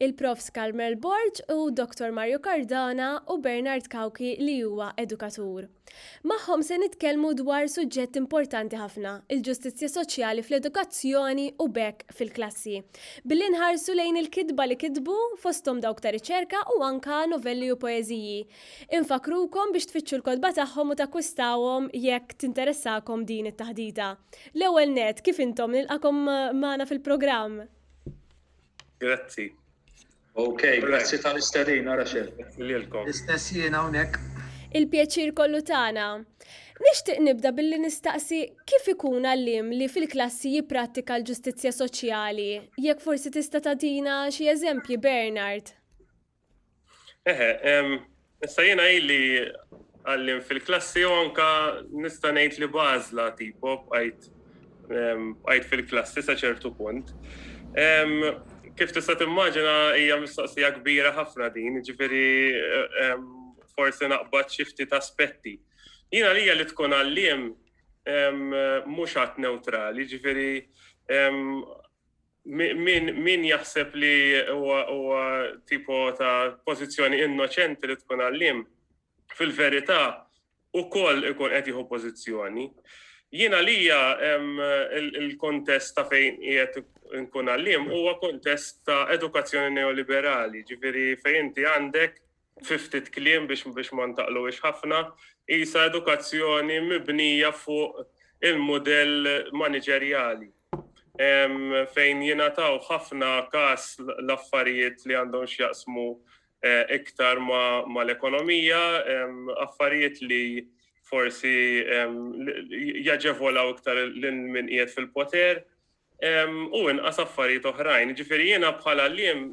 il-Profs Carmel Borg u Dottor Mario Cardona u Bernard Cauchi li huwa edukatur. Magħhom se nitkellmu dwar suġġett importanti ħafna, il-ġustizzja soċjali fl-edukazzjoni u b'hekk fil-klassi, billi nħarsu lejn il-kitba li kitbu, fosthom dawk ta' riċerka u anke novelli u poeżiji. Infakkrukom biex tfittxu l-kotba tagħhom u takkwistawhom jekk tinteressakom din it-taħdita. L-ewwel nett, kif intom? Nilqakom magħna fil-programm. Grazzi. Ok, grazzi tal-istedina, Raxel. L-istess jien hawnhekk. Il-pjaċir kollu tagħna. Nixtieq nibda billi nistaqsi kif ikun għalliem li fil-klassi jipprattika l-ġustizzja soċjali? Jekk forsi tista' tagħtina xi eżempji, Bernard. Eħe, issa jiena ili għallim fil-klassi u anka nista' ngħid li bażla tipo bqajt bqajt fil-klassi sa ċertu punt. Kif tista' timmaġina hija mistoqsija kbira ħafna din, ġifieri forsi naqbad xi ftit aspetti. Jiena lija li tkun għalliem mhux għat neutrali, ġifieri Min jaħseb li huwa tipo ta' pożizzjoni innoċenti li tkun għalliem, fil-verità ukoll ikun qed jieħu pożizzjoni. Jien għalija il-kontest ta' fejn qiegħed nkun għalliem huwa kontest ta' edukazzjoni neoliberali, ġifieri fejn inti għandek Fi ftit kliem biex biex ma ntaqluwiex ħafna, qisha edukazzjoni mibnija fuq il-mudell maniġerjali fejn jingħataw ħafna każ l-affarijiet li għandhom x'jaqsmu iktar mal-ekonomija, affarijiet li forsi jaġevolaw iktar lil min qiegħed fil-poter u inqas affarijiet oħrajn. Jiġifieri jiena bħal għalliem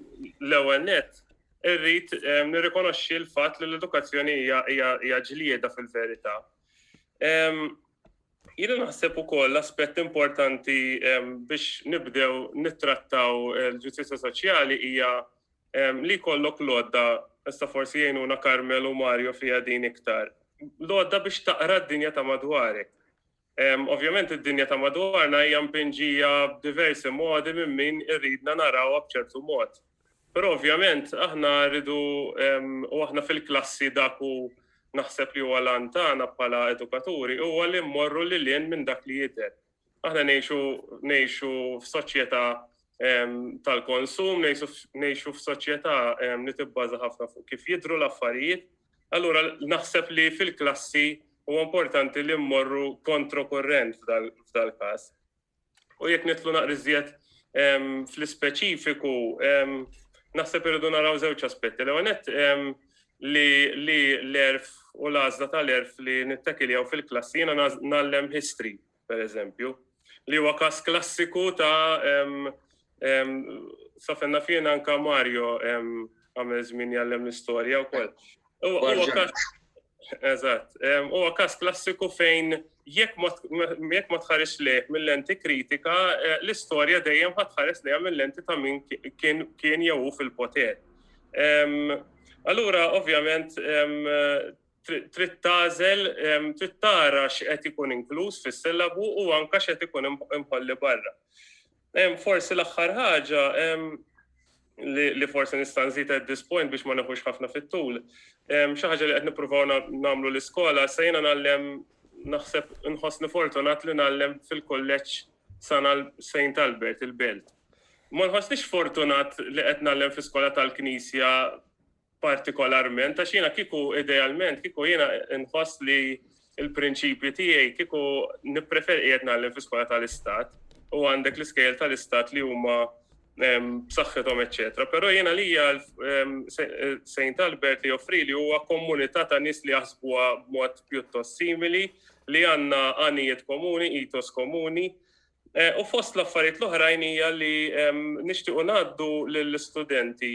l-ewwel nett irrid nirrikonoxxi l-fatt li l-edukazzjoni hija ġlieda fil-verità. Jiena naħseb ukoll l-aspett importanti biex nibdew nittrattaw il-ġustizzja soċjali hija li kollok lodda, issa forsi jgħinuna Karmel u Mario fija din iktar, lodda biex taqra d-dinja ta' madwarek. Ovvjament id-dinja ta' madwarna hija mpinġija b'diversi modi minn min iridna narawha b'ċertu mod. Però ovvjament aħna rridu u aħna fil-klassi dak hu naħseb li huwa l-għan tagħna bħala edukaturi huwa li mmorru lil hinn minn dak li jidher. Aħna ngħixu ngħixu f'soċjetà tal-konsum, ngħixu f'soċjetà li tibbaża ħafna fuq kif jidhru l-affarijiet, Allura naħseb li fil-klassi huwa importanti li mmorru kontrokurrent f'dal-każ. U jekk nitlu naqriżjed fl-ispeċifiku, naħseb irridu naraw żewġ aspetti. L-għonet li l-erf u l-għazla tal-erf li nittakiljaw fil-klassi jena nallem history per eżempju, li huwa każ klassiku ta' safenna fien anka Mario għamel żmien jallem l-istorja wkoll. Eżatt, huwa każ klassiku fejn jekk ma tħares leh mill-lenti kritika, eh, l-istorja dejjem ħadd tħares lejha mill-lenti ta' min kien jew fil-poter. Allura, ovvjament, trid tażel, trid tara x'qed ikun inkluż fis-sillabu u anke x'qed ikun imħolli barra. Forsi l-aħħar ħaġa li forsi nista' nżid at this point biex ma neħux ħafna fit-tul. Xi ħaġa li qed nippruvaw nagħmlu l-iskola se jiena nagħllem naħseb inħossni fortunat li nagħllem fil-kulleġġ sana Saint Albert il-Belt. Ma nħossniex fortunat li qed nagħllem fl-iskola tal-Knisja partikolarment għax jiena kieku idealment kieku jiena nħoss li l-prinċipji tiegħi kieku nippreferi qiegħed nagħlem fi skola tal-istat u għandek l-iskejjel tal-istat li huma b'saħħithom eċetera. Però jiena lija Saint Albert li joffri li huwa komunità ta' nies li jaħsbuha b'mod pjuttost simili li għandna għanijiet komuni, itos komuni, eh, u fost l-affarijiet l-oħrajn hija li nixtiequ ngħaddu lill-istudenti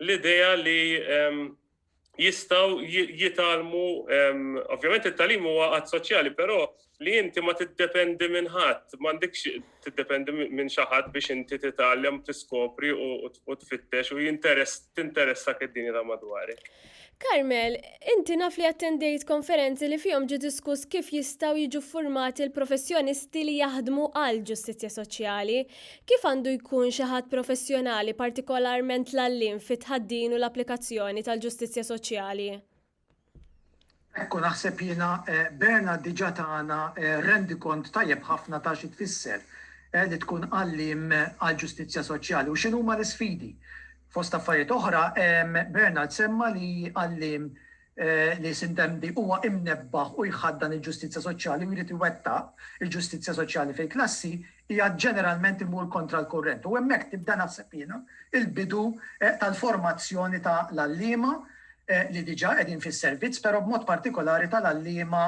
l-idea li jistgħu jitgħallmu, ovvjament it-tagħlim huwa għad soċjali, però li inti ma tiddependi minn ħadd, m'għandekx tiddependi minn xi ħadd biex inti titgħallem, tiskopri u tfittex u jinteress tinteressak id-dinja ta' madwarek. Carmel, inti naf li attendejt konferenzi li fihom ġie diskuss kif jistgħu jiġu ffurmati l-professjonisti li jaħdmu għall-ġustizzja soċjali. Kif għandu jkun xi ħadd professjonali, partikolarment l-għalliem fit-tħaddin u l-applikazzjoni tal-ġustizzja soċjali? Hekk hu naħseb jiena Bernard diġà tana rendikont tajjeb ħafna ta' xi tfisser li tkun għalliem għall-ġustizzja soċjali u x'inhuma l-isfidi. Fost affarijiet oħra, Bernard semma li għalliem li Sintemdi huwa imnebbaħ u jħaddan il-ġustizzja soċjali u jrid iwettaq il-ġustizzja soċjali fil-klassi qiegħed ġeneralment imur kontra l-kurrent u hemmhekk tibda naħseb jiena l-bidu tal-formazzjoni tal-għalliema li diġà qegħdin fis-servizz, però b'mod partikolari tal-għalliema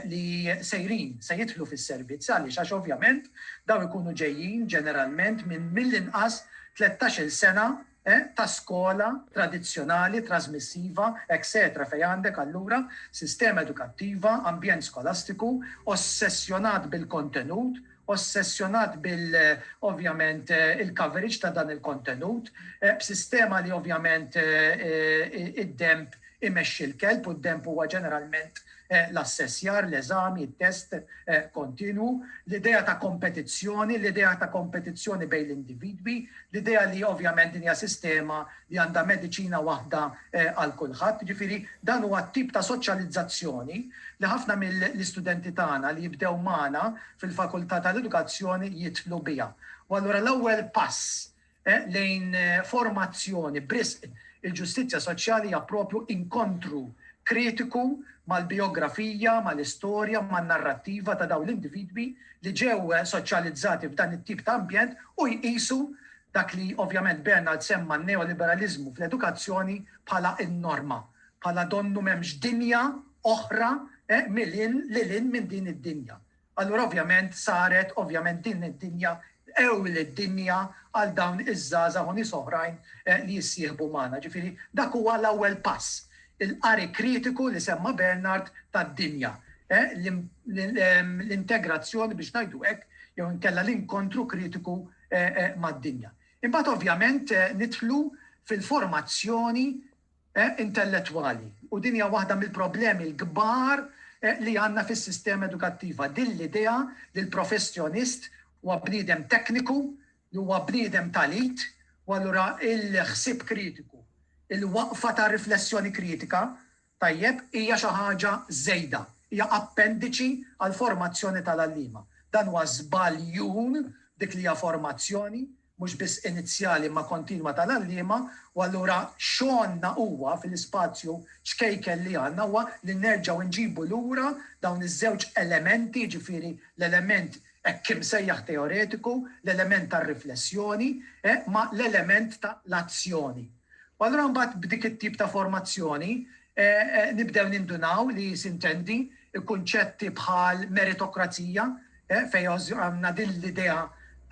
li sejrin, se jidħlu fis-servizz. Għaliex? Għax ovvjament dawn ikunu ġejjin ġeneralment minn mill-inqas tlettax-il sena ta' skola tradizzjonali, trasmissiva, etċetera fejn għandek allura sistema edukattiva, ambjent skolastiku ossessjonat bil-kontenut ossessjonat bil ovvjament il-coverage ta' dan il-kontenut, b'sistema li ovvjament id-denb imexxi l-kelb u d-denb huwa ġeneralment l-assessjar, l-eżami, it-test kontinwu, l-idea ta' kompetizzjoni, l-idea ta' kompetizzjoni bejn l-individwi, l-idea li ovvjament din hija sistema li għandha mediċina waħda għal kulħadd. Jiġifieri dan huwa t-tip ta' soċjalizzazzjoni li ħafna mill-istudenti tagħna li jibdew magħna fil-Fakultà tal-Edukazzjoni jidħlu biha. U allura l-ewwel pass lejn formazzjoni b'risq il-ġustizzja soċjali hija proprju inkontru kritiku mal-bijografija, mal-istorja, man-narrattiva ta' dawn l-individwi li ġew soċjalizzati f'dan it-tip ta' ambjent u jqisu Dak li ovvjament Bernard semma n-neoliberaliżmu fl-edukazzjoni bħala n-norma, bħala donnu m'hemmx dinja oħra milin lil hinn minn din id-dinja. Allura ovvjament saret ovvjament din id-dinja l-ewwel id-dinja għal dawn iż-żgħażagħ u nies oħrajn li jissieħbu magħna. Ġifieri dak huwa l-ewwel pass, il-qari kritiku li semma Bernard tad-dinja, l-integrazzjoni biex ngħidu hekk jew inkella l-inkontru kritiku mad-dinja. Imbagħad ovvjament nidħlu fil-formazzjoni intellettwali u din hija waħda mill-problemi l-kbar li għandna fis-sistema edukattiva, din l-idea li l-professjonist huwa bniedem tekniku, li huwa bniedem tal-id, u allura l-ħsieb kritiku, il-waqfa ta' riflessjoni kritika Tajjeb, hija xi ħaġa żejda. Hija appendiċi għall-formazzjoni tal-għalliema. Dan huwa żbaljun dik li hija formazzjoni, mhux biss inizjali imma kontinwa tal-għalliema, u allura xogħolna huwa fil-ispazju ċkejken li għandna huwa li nerġgħu nġibu lura dawn iż-żewġ elementi, jiġifieri l-element hekk imsejjaħ teoretiku, l-element tar-riflessjoni, ma' l-element ta' l-azzjoni. U allura mbagħad b'dik it-tip ta' formazzjoni nibdew nindunaw li sintendi kunċetti bħal meritokrazija fejn għandna din l-idea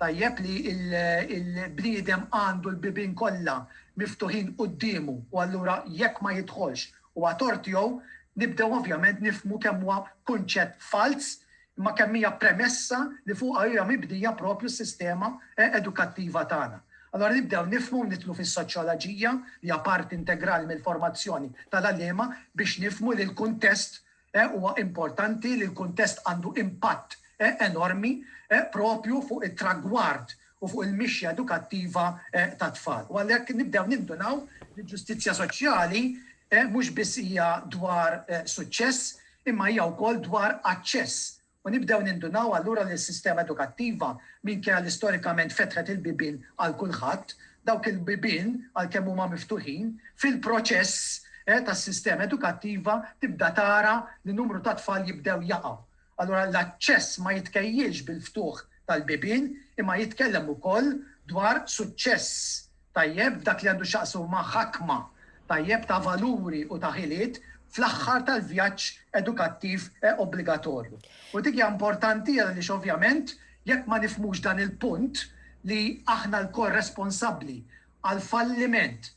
tajjeb li l-bniedem għandu l-bibien kollha miftuħin quddiemu u allura jekk ma jidħolx huwa tort tiegħu, nibdew ovvjament nifhmu kemm huwa kunċett falz imma kemm hija premessa li fuqha hija mibnija proprju s-sistema edukattiva tagħna. Allura nibdew nifhmu u nidħlu fis-soċjolaġija li hija parti integrali mill-formazzjoni tal-għalliema biex nifhmu li l-kuntest huwa importanti, li l-kuntest għandu impatt enormi proprju fuq it-tragward u fuq il-mixja edukattiva tat-tfal. U għalhekk nibdew nindunaw li l-ġustizzja soċjali mhux biss hija dwar suċċess imma hija wkoll dwar aċċess. U nibdew nindunaw allura li s-sistema edukattiva, minkejja li storikament fetħet il-bibien għal kulħadd, dawk il-bibien, għalkemm huma miftuħin, fil-proċess tas-sistema edukattiva tibda tara li numru ta' tfal jibdew jaqgħu. Allura l-aċċess ma jitkejjilx bil-ftuħ tal-bibien imma jitkellem ukoll dwar suċċess tajjeb f'dak li għandu x'jaqsmu ma' ħakma tajjeb ta' valuri u ta' ħiliet fl-aħħar tal-vjaġġ edukattiv obbligatorju. U dik hija importanti għaliex ovvjament jekk ma nifhmux dan il-punt li aħna lkoll responsabbli għall-falliment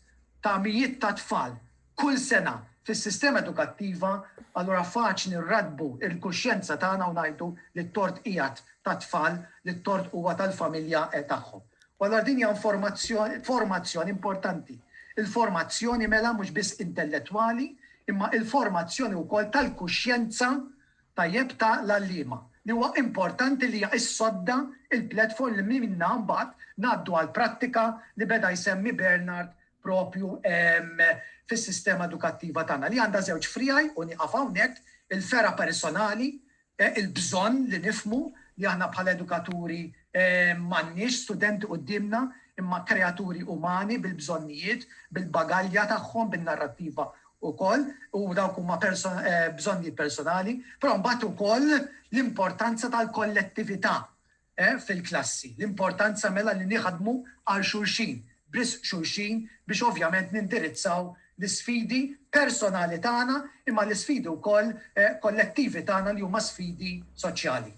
ta' mijiet ta' tfal, Kull sena, fis-sistema edukattiva, allura faċli nraddbu l-kuxjenza tagħna u ngħidu li t-tort qiegħed tat-tfal, li t-tort huwa tal-familja tagħhom. U allura din hija informazzjoni, formazzjoni importanti. Il-formazzjoni mela mhux biss intellettwali, imma il-formazzjoni wkoll tal-kuxjenza, tajjeb, ta' l-għalliema, li huwa importanti li hija s-sodda, il-platform li minnha mbagħad ngħaddu għall-prattika li beda jsemmi Bernard proprju fis-sistema edukattiva tagħna, li għandha żewġ friegħi u nieqaf hawnhekk, il-fergħa personali, il-bżonn li nifhmu li aħna bħala edukaturi m'għandniex studenti quddiemna imma kreaturi umani bil-bżonnijiet, bil-bagalja tagħhom, bin-narrattiva wkoll, u dawk huma bżonnijiet personali, però mbagħad ukoll l-importanza tal-kollettività E, fil-klassi. L-importanza mela li niħdmu għal xulxin, b'risq xulxin biex ovvjament nindirizzaw l-isfidi personali tagħna imma l-isfidi wkoll kollettivi tagħna li huma sfidi soċjali.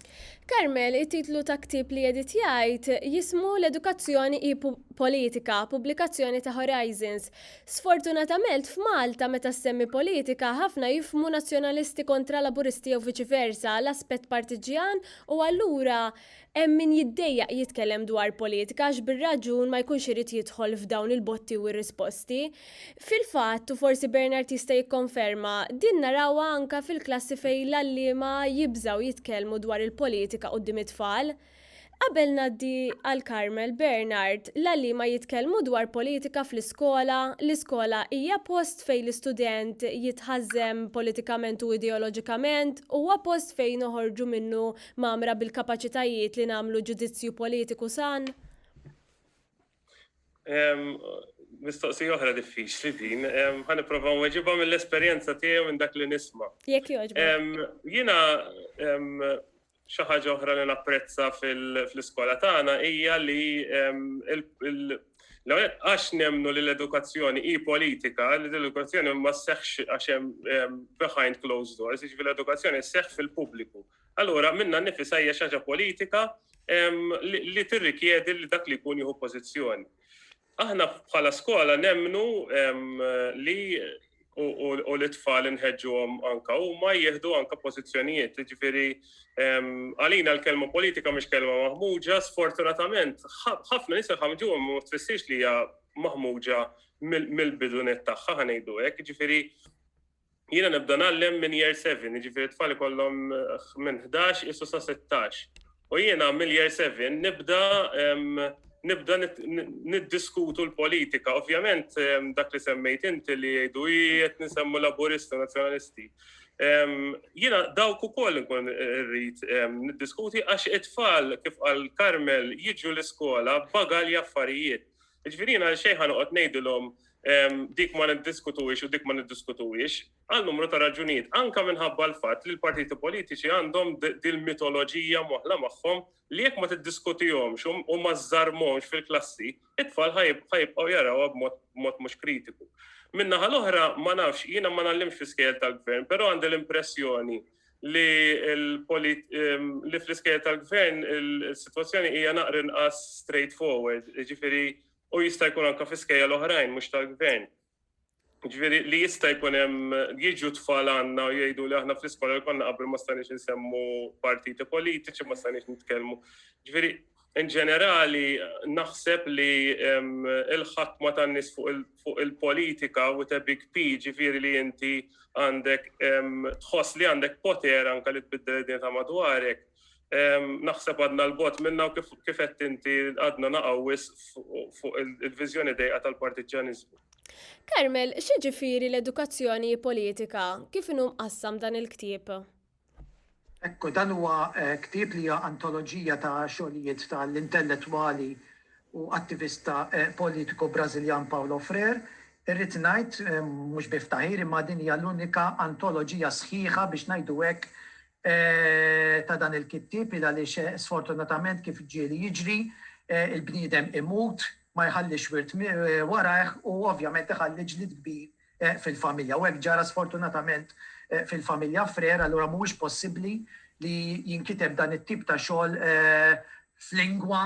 Carmel, it-titlu ta' ktieb li Edith jgħid jismu L-Edukazzjoni hi Politika, pubblikazzjoni ta' Horizons. Sfortunatamelt f'Malta meta ssemmi politika ħafna jifhmu nazzjonalisti kontra Laburisti jew viċi versa, l-aspett partiġġjan U allura hemm min jiddejjaq jitkellem dwar politika għax bir-raġun ma jkunx irid jidħol f'dawn il-botti u r-risposti. Fil-fatt, u forsi Bernard jista' jikkonferma, din narawha anke fil-klassi fejn l-għalliema jibżgħu jitkellmu dwar il-politika quddiem it-tfal. Qabel ngħaddi għal Carmel, Bernard, l-għalliema jitkellmu dwar politika fl-iskola? Skola, L-iskola hija post fejn l-istudent jitħażżen politikament u ideoloġikament, huwa post fejn noħorġu minnu mgħammra bil-kapaċitajiet li nagħmlu ġudizzju politiku san. Mistoqsija oħra diffiċli din. Ħa nipprova nweġibha mill-esperjenza tiegħi u minn dak li nisma'. Jekk jogħġbok. Jiena Xi ħaġa oħra li napprezza fl-iskola tagħna hija li għax nemnu li l-edukazzjoni hi politika, li l-edukazzjoni ma sseħħx għax hemm behind closed doors, jiġifieri l-edukazzjoni sseħħ fil-pubbliku. Allura minna nnifisha hija xi ħaġa politika li tirrikjedi li dak li jkun jieħu pożizzjoni. Aħna bħala skola nemmnu li u l-itfal inħeġġuhom anka huma jieħdu anka pożizzjonijiet. Jiġifieri għalina l-kelma politika mhix kelma maħmuġa, sfortunatament ħafna nies ħamġuhom ma tfissirx li hija maħmuġa mill-bidunet tagħha ħanejdu hekk. Jiġifieri Jiena nibda nallem minn year 7, jiġifieri tfal ikollhom minn 11 isu sa 16. U jiena mill-year 7 nibda nibda niddiskutu l-politika. Ovvjament dak li semmejt inti li jgħidu qed nisemmu laburisti nazzjonalisti. Jiena dawk ukoll nkun irrid niddiskuti għax it-tfal kif qal Carmel jiġu l-iskola bagalja affarijiet. Ġifieri jiena għal xejn ħanoqgħod ngħidilhom dik ma niddiskutuwiex u dik ma niddiskutuwiex, għal numru ta' raġunijiet, anka minħabba l-fatt li l-partiti politiċi għandhom dil-mitoloġija moħla magħhom li jekk ma tiddiskutihomx u ma żżarmhomx fil-klassi, it-tfal ħajbqgħu jarawha b'mod mhux kritiku. Minnaħa l-oħra ma nafx jiena ma nallimx fi skejjel tal-gvern, però għandi l-impressjoni li li fl-iskejjel tal-gvern il-sitwazzjoni hija naqra inqas straightforward, jiġifieri u jista' jkun anke fl-iskejjel oħrajn mhux tal-gvern. Jiġifieri li jista' jkun hemm jiġu tfal għandna u jgħidu li aħna fl-iskola li konna qabel ma stajniex insemmu partiti politiċi, ma stajniex nitkellmu. Jiġifieri In ġenerali, naħseb li l-ħakma tan-nies fuq il-politika with a big P, ġifieri li inti għandek tħoss li għandek poter anke li tbiddel id-dinja ta' madwarek, naħseb għadna 'l bogħod minnha u kif qed inti għadna naqgħu wisq fuq il-viżjoni dejqa tal-partiġġjaniżmu. Carmel, x'jiġifieri l-edukazzjoni hi politika? Kif inhu mqassam dan il-ktieb? Ekku, dan huwa ktieb li hija antoloġija ta' xogħlijiet ta' l-intellettwali u attivista politiku Brażiljan Paulo Freire. Irrid ngħid, mhux bi ftaħir, imma din hija l-unika antoloġija sħiħa, biex ngħidu hekk, ta' dan il-kittieb, il għaliex sfortunatament kif ġieli jiġri, il-bniedem imut, ma jħallix wirt warajh u ovvjament iħalli ġlied kbir fil-familja. U hekk ġara sfortunatament fil-familja Frère, allura mhuwiex possibbli li jinkiteb dan it-tip ta' xogħol f'lingwa,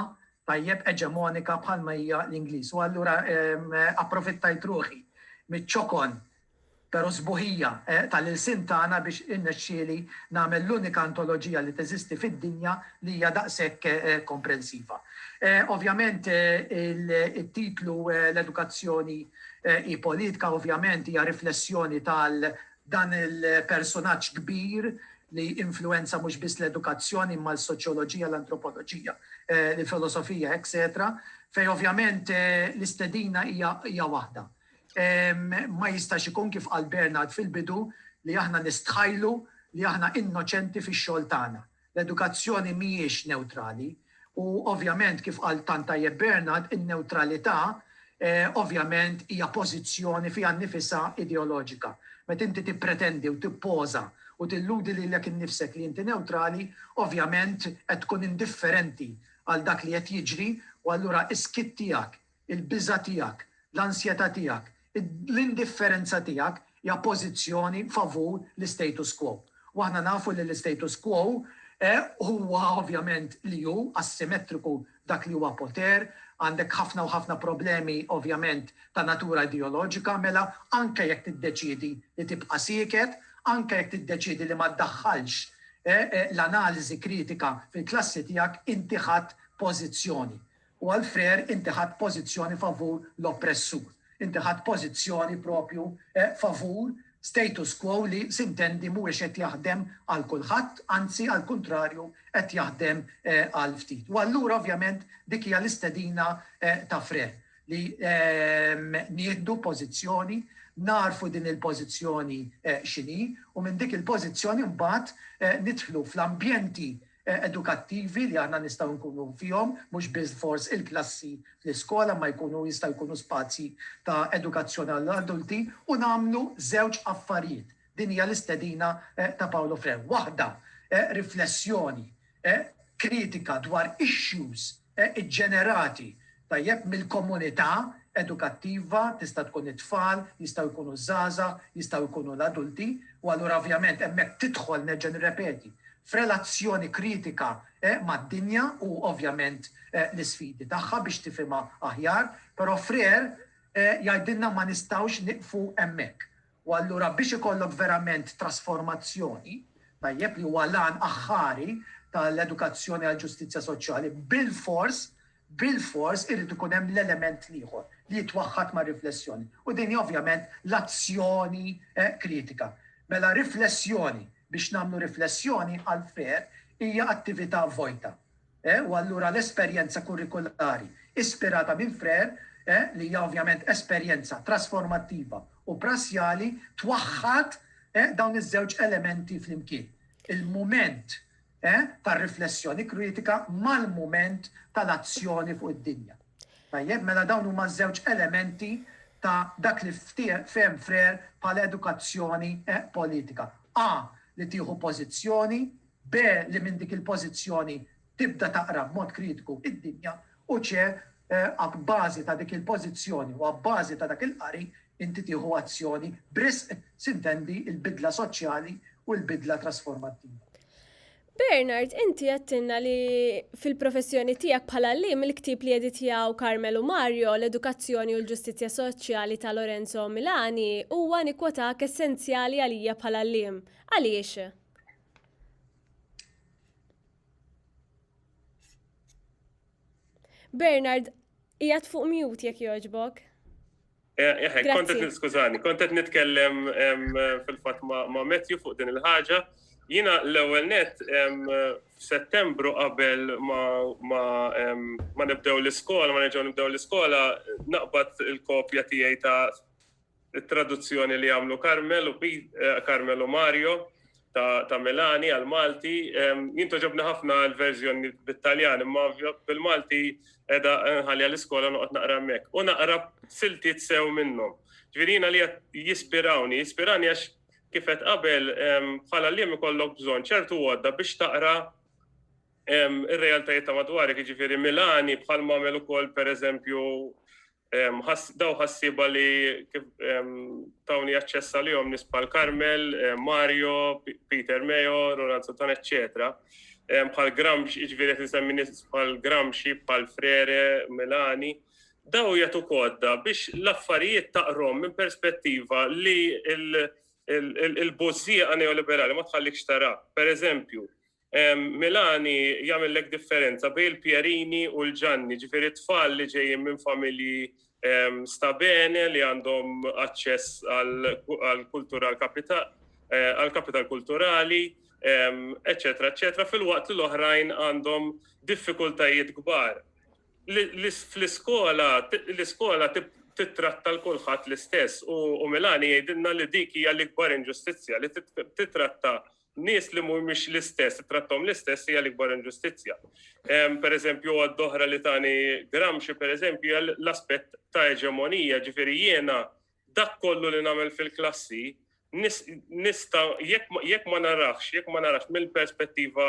tajjeb, eġemonika bħalma hija l-Ingliż. U allura approfittajt ruħi miċ-ċokon, però sbuħija, tal-ilsien tagħna biex irnexxieli nagħmel l-unika antoloġija li teżisti fid-dinja li hija daqshekk komprensiva. Ovvjament it-titlu L-edukazzjoni hi politika ovvjament hija riflessjoni tal dan il-persunaġġ kbir li influwenza mhux biss l-edukazzjoni imma l-soċjoloġija, l-antropoloġija, l-filosofija, etc. Fej ovvjament l-istedina hija waħda. Ma jistax ikun kif qal Bernard fil-bidu li aħna nistħajlu li aħna innoċenti fix-xogħol tagħna. L-edukazzjoni mhijiex newtrali u ovvjament kif qal tant tajjeb Bernard, in-newtralità ovvjament hija pożizzjoni fiha nnifisha ideoloġika. Meta inti tippretendi u tippoża u tilludi lilek innifsek li inti newtrali, ovvjament qed tkun indifferenti għal dak li qed jiġri u allura s-skiet tiegħek, Il-biża' tiegħek, l-ansjetà tiegħek, l-indifferenza tiegħek hija pożizzjoni favur l-istatus quo. U aħna nafu li l-istatus quo huwa ovvjament li hu assimetriku f'dak li huwa poter, għandek ħafna u ħafna problemi ovvjament ta' natura ideoloġika, mela anke jekk tiddeċiedi li tibqa' sieket, anke jekk tiddeċiedi li ma ddaħħalx l-analiżi kritika fil-klassi tiegħek, inti ħadt pożizzjoni. U għal Freire inti ħadt pożizzjoni favur l-oppressur. Inti ħadt pożizzjoni proprju favur status quo li sintendi mhuwiex qed jaħdem għal kulħadd, anzi għall-kuntrarju qed jaħdem għal ftit. U allura ovvjament dik hija l-istedina ta' Freire li nieħdu pożizzjoni, nagħrfu din il-pożizzjoni x'inhi u minn dik il-pożizzjoni mbagħad nidħlu fl-ambjenti edukattivi li aħna nistgħu nkunu fihom, mhux biss fors il-klassi fl-iskola, imma jkunu jistgħu jkunu spazji ta' edukazzjoni għall-adulti u nagħmlu żewġ affarijiet. Din hija l-istedina ta' Paolo Frew. Waħda, riflessjoni kritika dwar issues, iġġenerati tajjeb mill-komunità edukattiva, tista' tkun it-tfal, jistgħu jkunu ż-żgħażagħ, jistgħu jkunu l-adulti, u allura ovvjament hemmhekk tidħol, nerġa' nirrepeti, f'relazzjoni kritika mad-dinja u ovvjament l-isfidi tagħha biex tifhimha aħjar, però Freire jgħidilna ma nistgħux nieqfu hemmhekk. U allura biex ikollok verament trasformazzjoni, tajjeb, li huwa l-għan aħħari tal-edukazzjoni għall-ġustizzja soċjali, bilfors, bilfors irid ikun hemm l-element l-ieħor li jitwaħħad mar-riflessjoni. U din hi ovvjament l-azzjoni kritika. Mela riflessjoni biex nagħmlu riflessjoni għall-fair hija attività vojta. E u allura l-esperjenza kurrikulari ispirata minn Freire, e li hija ovvjament esperjenza trasformattiva u prassjali, twaħħad e dawn iż-żewġ elementi flimkien, il-mument e tar-riflessjoni kritika mal-mument tal-azzjoni fuq id-dinja. Tajjeb, mela dawn huma ż-żewġ elementi ta' dak li fehem Freire bħala edukazzjoni e politika. A li tieħu pożizzjoni B li minn dik il-pożizzjoni tibda taqra b'mod kritiku id-dinja u C abbażi ta' dik il-pożizzjoni u abbażi ta' dak il-qari inti tieħu azzjoni b'risq, s'intendi l-bidla soċjali u l-bidla trasformattiva. Bernard, inti għedtilna li fil-professjoni tiegħek bħala għalliem il-ktieb li editjaw Carmel u Mario, L-Edukazzjoni u l-Ġustizzja Soċjali ta' Lorenzo Milani, huwa, nikkwotahk, essenzjali għalija bħala għalliem. Għaliex? Bernard, jgħat fuq mute jek joġbok. Kontet niskużani, kontet nitkellem fil-fat ma' Matthew fuq din il-ħagġa. Jina l-ewel net, f'settembru qabel ma nibdew l-iskola, ma nibdew l-iskola, naqbad il-kopja tijaj ta' it-traduzzjoni li għamlu Carmel u Carmel u Mario ta' Milani għal Malti. Jinto ġobna ħafna l-verżjoni bit-Taljan, imma bil-Malti edha nħalli għal-iskola noqgħod naqra mek. U naqra siltiet sew minnhom. Ġvirina li jispirawni, jispirani għax kifet qabel bħala li ikollok bżonn ċertu għodda biex taqra ir-realtajiet ta' madwari, ġifieri Milani bħal mamel ukoll pereżempju Daw ħassiba li tawni aċċess għalihom nies bħal Carmel, Mario, Peter Meo, Roland Santana, eċċetera. Bħal Gramsci, jiġifieri qed insemmi nies bħal Gramsci, bħal Frere, Milani. Daw jagħtu kodda biex l-affarijiet taqrom minn perspettiva li l-bożżieqa neoliberali ma tħallikx tara. Per eżempju, Milani jagħmillek differenza bejn il-Pierini u l-Ġanni, ġifieri tfal li ġejjin minn familji sta bene li għandhom aċċess għall-kultura għall-kapital kulturali, eċċetera, eċċetera, fil-waqt li l-oħrajn għandhom diffikultajiet kbar. Fl-iskola, l-iskola tittratta l-kulħadd l-istess u Milani jgħidilna li dik hija l-ikbar inġustizzja li tittratta Nies li mhumiex l-istess, tratthom l-istess hija l-ikbar inġustizzja. Pereżempju, għodda oħra li tani Gramsci, pereżempju, hija l-aspett ta' eġemonija, ġifieri jiena dak kollu li nagħmel fil-klassi nista' jekk ma narafx, jekk ma narafx mill-perspettiva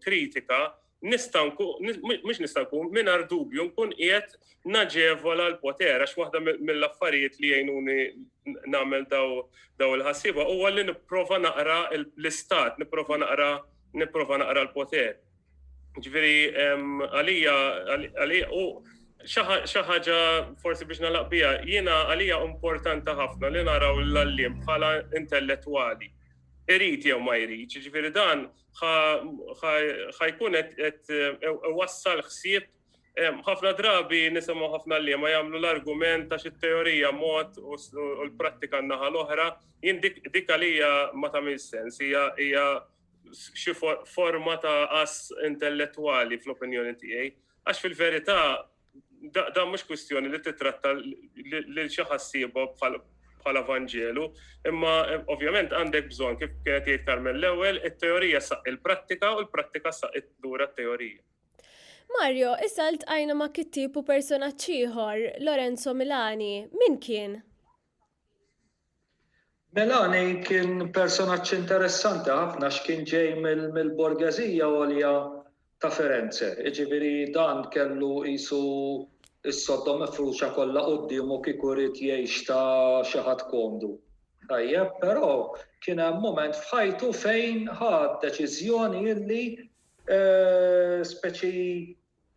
kritika, nista' mhux nista' nkun mingħajr dubju nkun qiegħed naġevola l-poter għax waħda mill-affarijiet li jgħinuni nagħmel daw il-ħassiba huwa li nipprova naqra l-istat, nipprova naqra nipprova naqra l-poter. Ġifieri għalija għalija u xi ħaġa forsi biex nalaq biha, jiena għalija importanti ħafna li naraw l-għalliem bħala intellettwali. Irid jew ma jrid, ġifieri dan ħa jkun qed wassal ħsieb ħafna drabi nisimgħu ħafna li ma jagħmlu l-argument ta' xi teorija mod u l-prattika naħa l-oħra, jien dik għalija ma tagħmel sens, hija xi forma ta' as intellettwali fl-opinjoni tiegħi. Għax fil-verità Dan mhux kwistjoni li titratta lil xi ħassieba bħala Vanġelu, imma ovvjament għandek bżonn kif kienet jgħid Carmen l-ewwel, it-teorija saq il-prattika u l-prattika saq lura t-teorija. Mario, issa ltqajna ma' kittieb u personaġġ ieħor, Lorenzo Milani. Min kien? Melani kien personaġġ interessanti ħafna għax kien ġej mill-borgeżija għolja ta' Firenze, jiġifieri dan kellu qisu s-sodda mifruxa kollha quddiemu kieku ried jgħix ta' xi ħadd komdu. Tajjeb, però kien hemm mument f'ħajtu fejn ħa deċiżjoni illi speċi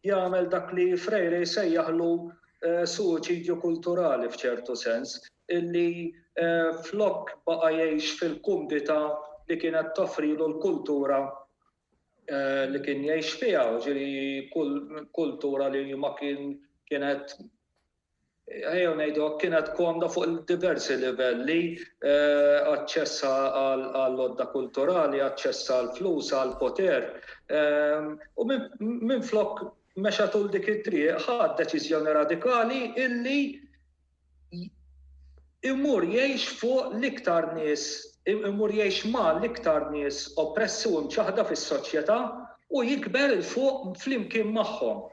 jagħmel dak li Freire jsejjaħlu suwiċidju kulturali f'ċertu sens, illi flok baqa' jgħix fil-kumdità li kienet toffrilu l-kultura li kien jgħix fiha, jiġifieri kultura li ma kien kienet ejjew ngħidu hekk, kienet komda fuq diversi livelli, aċċess għall-għodda kulturali, aċċess għall-flus, għall-poter. U minflok mexa tul dik it-triq, ħa deċiżjoni radikali illi imur jgħix fuq l-iktar nies, imur jgħix ma' l-iktar nies oppressi u mċaħda fis-soċjetà u jikber il-fuq flimkien magħhom.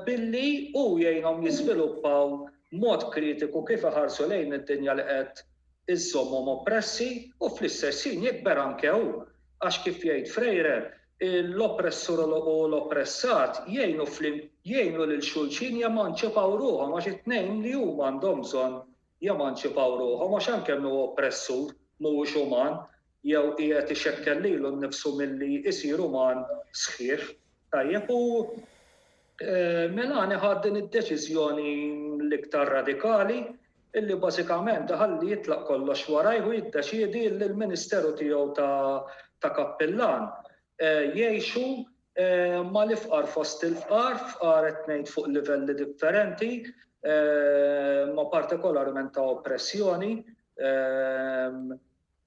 billi hu jgħinhom jiżviluppaw mod kritiku kif iħarsu lejn id-dinja li qed iżżommhom oppressi u fl-istess ħin jikber anke hu għax kif jgħid Freire, l-oppressur u l-oppressat jgħinu lil xulxin jemanċipaw ruħhom għax it-tnejn li huma għandhom bżonn jemanċipaw ruħhom għax anke min hu oppressur mhuwiex uman jew qiegħed ixekkel lilu nnifsu milli jsir uman sħiħ. Tajjeb, u Melania ħadt din id-deċiżjoni l-iktar radikali illi bażikament iħalli jitlaq kollox warajh u jiddeċiedi illi l-ministeru tiegħu ta' kappillan jgħixu mal-ifqar fost il-fqar, fqar qed ngħid fuq livelli differenti, imma partikolarment ta' oppressjoni,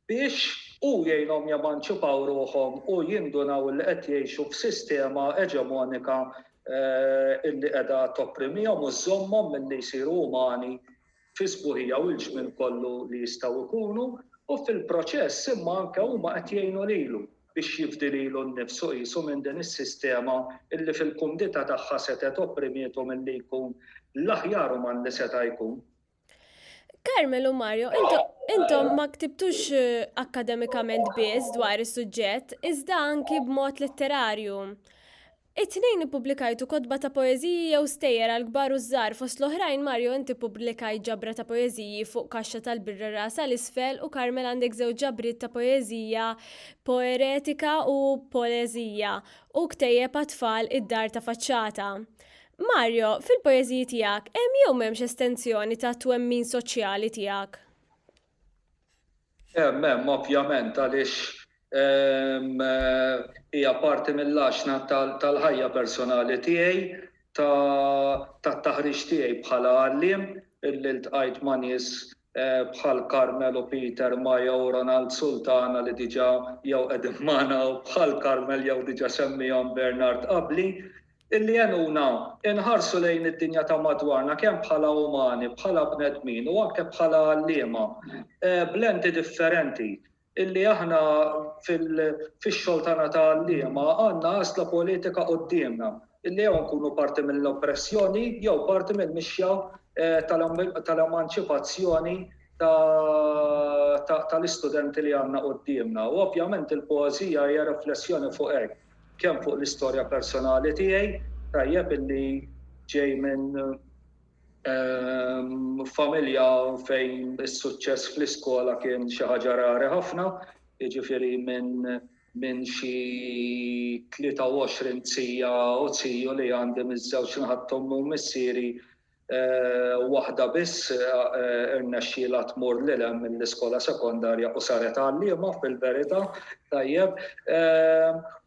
biex hu jgħinhom jemanċipaw ruħhom u jindunaw li qed jgħixu f'sistema eġemonika li qiegħda topprimihom u żżommhom milli jsiru umani. fi sbuħija u l-ġmiel kollu li jistgħu jkunu u fil-proċess imma anke huma qed jgħinu lilu biex jifdi lilu nnifsu qisu minn din is-sistema illi fil-kumdità tagħha setgħet opprimietu milli jkun l-aħjar uman li seta' jkun. Carmel u Mario, intom ma ktibtux eh, akkademikament biss dwar is-suġġett, iżda anki b'mod letterarju. It-Tnejn ippubblikajtu kotba ta' poeżiji jew stejjer għall-kbar u ż-żgħar, fost l-oħrajn Mario int ippubblikajt ġabra ta' poeżiji Fuq kaxxa tal-birra rasa 'l isfel u Carmel għandek żewġ ġabriet ta' poeżija Poeretika u Poleżija u ktejjeb għat-tfal Id-dar ta' faċċata. Mario, fil-poeżiji tiegħek hemm jew m'hemmx estensjoni tat-twemmin soċjali tiegħek? Hemm, hemm, ovvjament, għaliex hija parti mill-għaxna tal-ħajja personali tiegħi, tat-taħriġ tiegħi bħala għalliem, illi ltqajt ma' nies bħal Carmel u Peter, Maya u Ronald Sultana li diġà jew qegħdin magħna u bħal Carmel jew diġà semmiehom Bernard qabli. Illi jgħinuna nħarsu lejn id-dinja ta' madwarna kemm bħala umani, bħala bnedmin u anke bħala għalliema b'lenti differenti. Illi aħna fix-xogħol tagħna ta' għalliema għandna għażla politika quddiemna, illi jew inkunu parti mill-oppressjoni jew parti mill-mixja tal-emanċipazzjoni tal-istudenti li għandna quddiemna. U ovvjament il-poeżija hija riflessjoni fuq hekk. Kemm fuq l-istorja personali tiegħi, tajjeb illi ġej minn familja fejn is-suċċess fl-iskola kien xi ħaġa rari ħafna, jiġifieri minn xi 23 zija u ziju li għandi miż-żewġ naħat t'ommi u missieri Waħda biss irnexxielha tmur lil hemm mill-iskola sekondarja u saret għalliema fil-verità, tajjeb.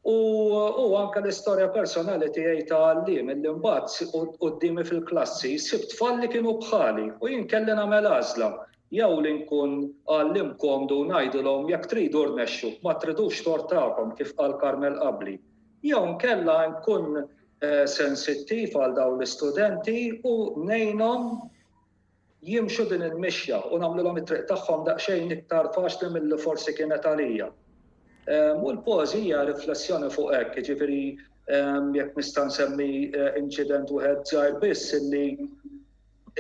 U anke l-istorja personali tiegħi ta' għalliem illi mbagħad quddiemi fil-klassi sibt tfal li kienu bħali u jien kelli nagħmel għażla jew li nkun għalliem komdu u ngħidilhom jekk tridu rnexxu, ma tridux tort tagħkom kif qal Carmel qabli, jew inkella nkun sensittiv għal dawn l-istudenti u ngħinhom jimxu din il-mixja u nagħmlilhom it-triq tagħhom daqsxejn iktar faċli milli forsi kienet għalija. Ehm, u l-pożija riflessjoni fuq hekk, jiġifieri ehm, jekk nista' nsemmi eh, inċident wieħed żgħir biss illi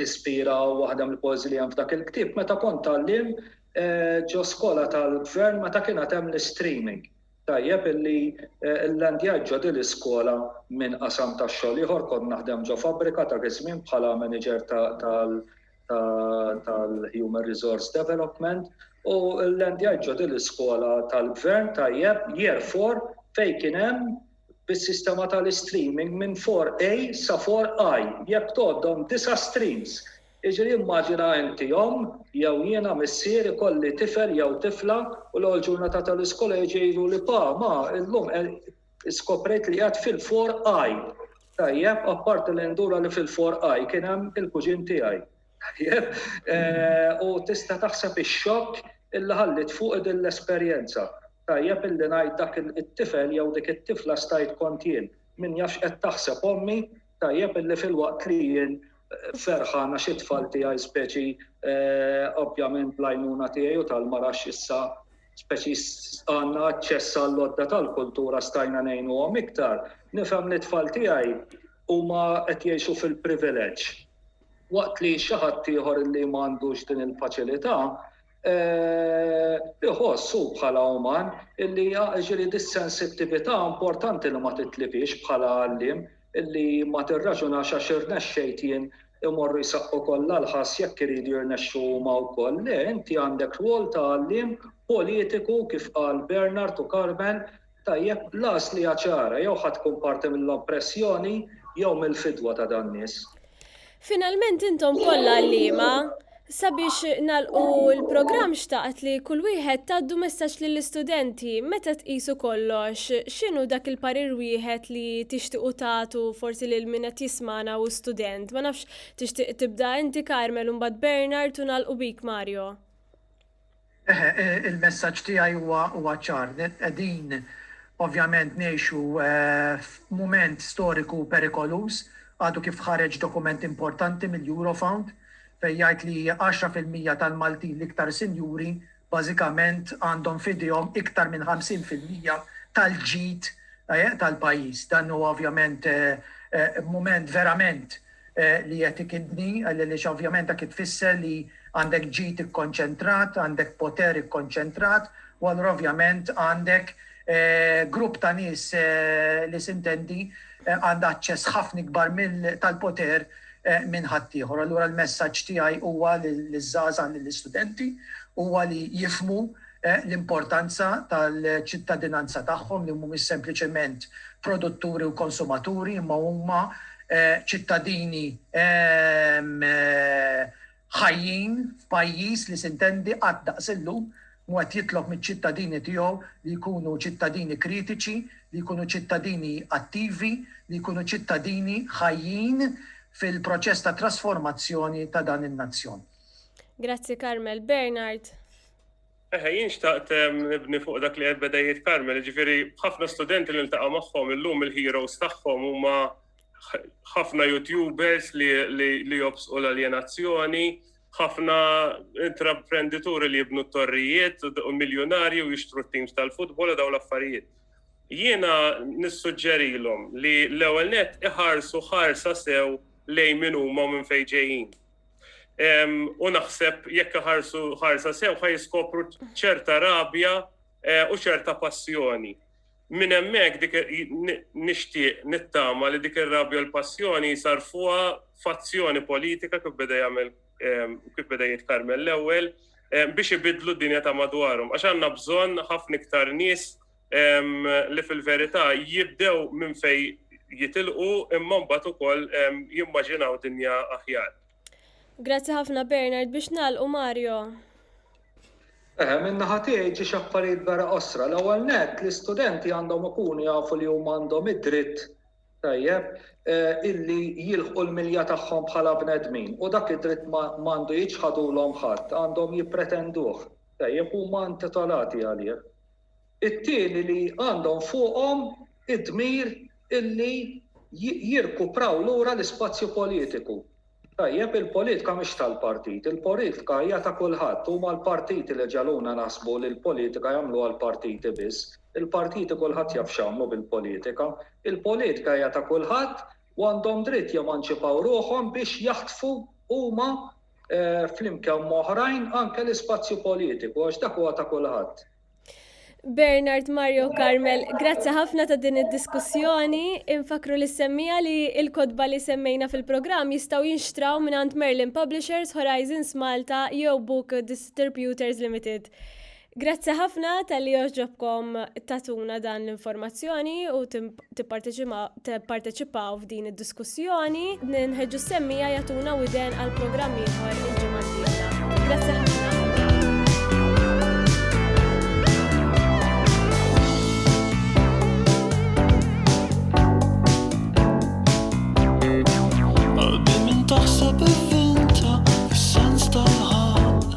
ispira waħda mill-pożi li hemm f'dak il-ktieb meta kont tgħallim eh, ġo skola tal-gvern meta kien hemm l-streaming. Tajjeb illi llandjajt ġo din l-iskola minn qasam ta' xogħol ieħor, kont naħdem ġo fabbrika dak iż-żmien bħala manager tal-human resource development u llandjajt ġo din l-iskola tal-Gvern tajjeb year four fejn kien hemm bis-sistema tal-istreaming minn 4A sa 4I jekk tgħoddhom disa' streams Iġri immaġina inti omm jew jiena missier ikolli tifel jew tifla u l-ewwel ġurnata tal-iskola jiġi jgħiduli pa, ma, illum skoprejt li qiegħed fil-four I. Tajjeb, apparti li ndura li fil-four I kien hemm il-kuġin tiegħi. Tajjeb? U tista' taħseb ix-xokk illi ħalliet fuqi din l-esperjenza. Tajjeb illi ngħid dak it-tifel jew dik it-tifla stajt kont jien. Min jaf x'qed taħseb ommi Tajjeb illi filwaqt li jien ferħan għax it-tfal tiegħi speċi ovvjament bl-għajnuna tiegħi u tal-mara x'issa speċi għandna aċċess għall-lodda tal-kultura stajna ngħinuhom iktar, nifhem li t-tfal tiegħi huma qed jgħixu fil-privileġġ. Waqt li xi ħadd ieħor li ma għandux din il-faċilità iħoss hu bħala uman illi jiġifieri dis-sensittività importanti li ma titlifhiex bħala għalliem illi ma tirraġunax għax irnexxejt jien imorru jsaqqu kollha l-ħass jekk iridu jirnexxu huma wkoll. Le, inti għandek rwol ta' għalliem politiku kif qal Bernard u Carmen Tajjeb, l-għażl hija ċara, jew ħa tkun parti mill-oppressjoni jew mill-fidwa ta' dan-nies. Finalment intom kollha għalliema, sabiex nagħlqu l-programm xtaqt li kull wieħed tgħaddu messaġġ lill-istudenti meta tqisu kollox x'inhu dak il-parir wieħed li tixtiequ tagħtu forsi lil min qed jismagħna hu student. Ma nafx tixtieq tibda inti Carmel u mbagħad Bernard u nagħlqu bik Mario. Eħe, il-messaġġ tiegħi huwa ċar. Qegħdin ovvjament ngħixu f'mument storiku perikoluż. Għadu kif ħareġ dokument importanti mill-Eurofound fejn jgħid li għaxra fil-mija tal-Maltin l-iktar sinjuri bażikament għandhom f'idejhom iktar minn ħamsin fil-mija tal-ġid tal-pajjiż. Dan huwa ovvjament mument verament li qed ikidni għaliex ovvjament dak tfisser li għandek ġid ikkonċentrat, għandek poter ikkonċentrat u allura ovvjament għandek grupp ta' nies li sintendi għandha aċċess ħafna ikbar tal-poter minn ħaddieħor. Allura l-messaġġ tiegħi huwa liż-żgħażagħ, lill-istudenti huwa li jifhmu l-importanza tal-ċittadinanza tagħhom li mhumiex sempliċement produtturi u konsumaturi imma huma ċittadini ħajjin f'pajjiż li sintendi qatt daqs illum mhu qed jitlob miċ-ċittadini tiegħu li jkunu ċittadini kritiċi, li jkunu ċittadini attivi, li jkunu ċittadini ħajjin fil-proċess ta' trasformazzjoni ta' dan in-nazzjon. Grazzi Carmel. Bernard. Eħe, jien xtaqt nibni fuq dak li qed Bedejjiet Karmel, jiġifieri ħafna studenti li niltaqa' magħhom illum il-heroes tagħhom huma ħafna YouTubers li jobsqu l-aljenazzjoni, ħafna intraprendituri li jibnu t-torrijiet, u miljunarji u jixtru t-teams tal-futbol u dawn l-affarijiet. Jiena nissuġġerilhom li l-ewwel nett iħarsu ħarsa sew lejn min huma u minn fejn ġejjin. u naħseb jekk ħarsu ħarsa sew ħaj jiskopru ċerta rabja eh, u ċerta passjoni. Min hemmhekk dik nixtieq nittama li dik ir-rabja u l-passjoni jsarfuha fazzjoni politika kif beda jagħmel kif beda jitkarmel l-ewwel biex ibidlu d-dinja ta' madwarhom. Għax għandna bżonn ħafna iktar nies li fil-verità jibdew minn fej jitilqu imma mbagħad ukoll jimmaġinaw dinja aħjar. Grazzi ħafna Bernard biex nagħlqu Mario. Eħe, minn naħa tiegħi ġi xaffarijiet vera qosra. L-ewwel nett l-istudenti għandhom ikunu jafu li huma għandhom id-dritt tajjeb eh, illi jilħqu l-milja tagħhom bħala bnedmin u dak id-dritt ma għandu jiġħadulhom ħadd, għandhom jippretenduh. Tajjeb huma intitolati għalih. It-tieni li għandhom fuqhom id-dmir illi jirkupraw lura l-ispazju politiku. Tajjeb, il-politka mhix tal-partit, il-politka hija ta' kulħadd, huma l-partiti li ġegħluna naħsbu li l-politika jagħmluha l-partiti biss. Il-partiti kulħadd jaf x'għamlu bil-politika. Il-politka hija ta' kulħadd u għandhom dritt jemanċipaw ruħhom biex jaħtfu huma flimkien m'oħrajn anke l-ispazju politiku għax dak huwa ta' kulħadd. Bernard Mario Carmel, grazzi ħafna ta' din id-diskussjoni. Infakru li semmija li il-kodba li semmejna fil-programm jistgħu jinxtraw minn għand Merlin Publishers, Horizons Malta jew Book Distributors Limited. Grazzi ħafna tal-li joġobkom tatuna dan l-informazzjoni u tipparteċipaw f'din id-diskussjoni. Nħeġġu s-semmija jatuna u iden għal-programm ieħor il-ġimgħa Grazzi ħafna. Għalbi minn taħseb il-vinta, il-sens tal-ħal,